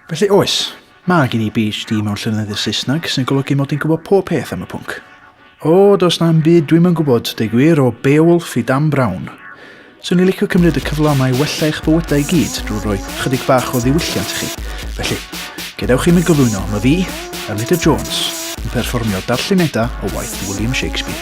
Felly oes, mae gen i PhD mewn llyneddiaeth Saesneg sy'n golygu mod i'n gwybod pob peth am y pwnc. O, does na'm byd dwi'm yn gwybod, deu gwir, o Beowulf i Dan Brown. Swn i licio cymryd y cyfle yma i wella eich bywydau i gyd drwy roi chydig bach o ddiwylliant i chi. Felly, gadewch i mi gyflwyno, mae fi, Elida Jones, yn perfformio darlleniadau o waith William Shakespeare.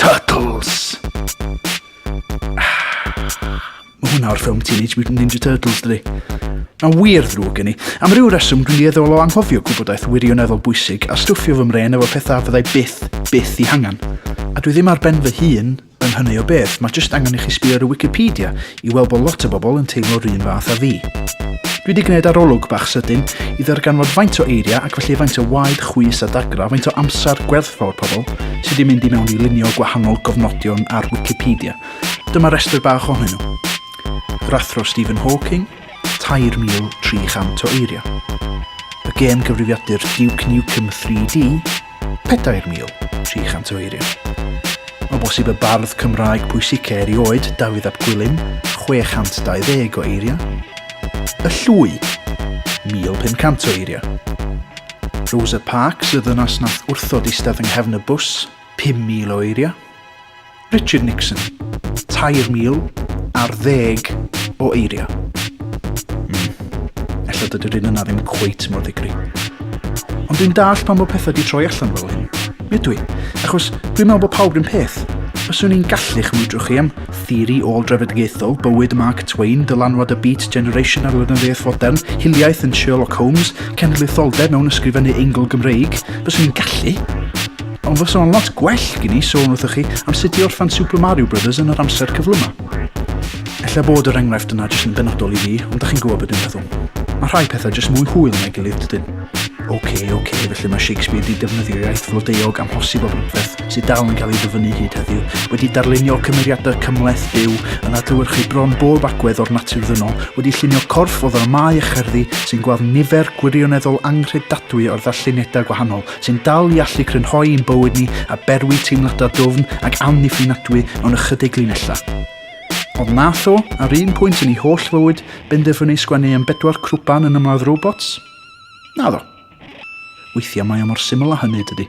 Turtles! Mae hwnna o'r ffilm Teenage Mutant Ninja Turtles, dydy. Mae'n wir ddrwg gen i. Am ryw reswm, dwi'n dieddol o anghofio gwybodaeth wirioneddol bwysig a stwffio fy mren efo pethau fyddai byth, byth i hangen. A dwi ddim ar ben fy hun yn hynny o beth, mae jyst angen i chi sbio ar y Wikipedia i weld bod lot o bobl yn teimlo'r un fath â fi. Dwi wedi gwneud arolwg bach sydyn i ddarganfod faint o eiriau ac felly faint o waed, chwys a dagra, faint o amser gwerthfawr pobl sydd wedi mynd i mewn i lunio gwahanol gofnodion ar Wikipedia. Dyma restr bach ohonyn nhw. Yr athro Stephen Hawking, 3,300 o eiriau. Y gêm gyfrifiadur Duke Nukem 3D, 4,300 o eiriau. O bosib y bardd Cymraeg pwysica erioed, Dafydd ap Gwilym, 620 o eiriau. Y Llwy, 1,500 o eiriau. Rosa Parks, y ddynas nath wrthod eistedd yng nghefn y bws, 5,000 o eiriau. Richard Nixon, 3,000 ar ddeg o eiriau. Mm. Ella dydy'r un yna ddim cweit mor ddigri. Ond dwi'n dall pan bod pethau di troi allan fel hyn. Mi ydw i, achos dwi'n meddwl bod pawb rhywun peth. Fyswn i'n gallu chymwydro chi am theori ôl drefedigaethol, bywyd Mark Twain, dylanwad y Beat Generation ar lenyddiaeth fodern, hiliaeth yn Sherlock Holmes, cenedlaetholdeb mewn ysgrifennu eingl Gymreig. Fyswn i'n gallu. Ond fysa fo'n lot gwell gen i sôn wrthych chi am sut i orffan Super Mario Brothers yn yr amser cyflym yma. Ella bod yr enghraifft yna jyst yn benodol i fi, ond da chi'n gwybod beth dwi'n meddwl. Mae rhai pethau jyst mwy hwyl na'i gilydd dydyn. OK, OK, felly mae Shakespeare wedi defnyddio iaith flodeuog amhosib o brydferth sydd dal yn cael ei ddyfynnu hyd heddiw, wedi darlunio cymeriadau cymleth byw yn adlewyrchu bron bob agwedd o'r natur ddynol, wedi llunio corff o ddramau a cherddi sy'n gweld nifer gwirioneddol anghredadwy o'r ddarlleniadau gwahanol, sy'n dal i allu crynhoi ein bywyd ni a berwi teimladau dwfn ac amddiffynadwy mewn ychydig linellau. Ond nath o, ar un pwynt yn ei holl fywyd, benderfynu sgwennu am bedwar crwban yn ymladd robots? Na ddo. Weithiau mae o mor syml â hynny, dydy.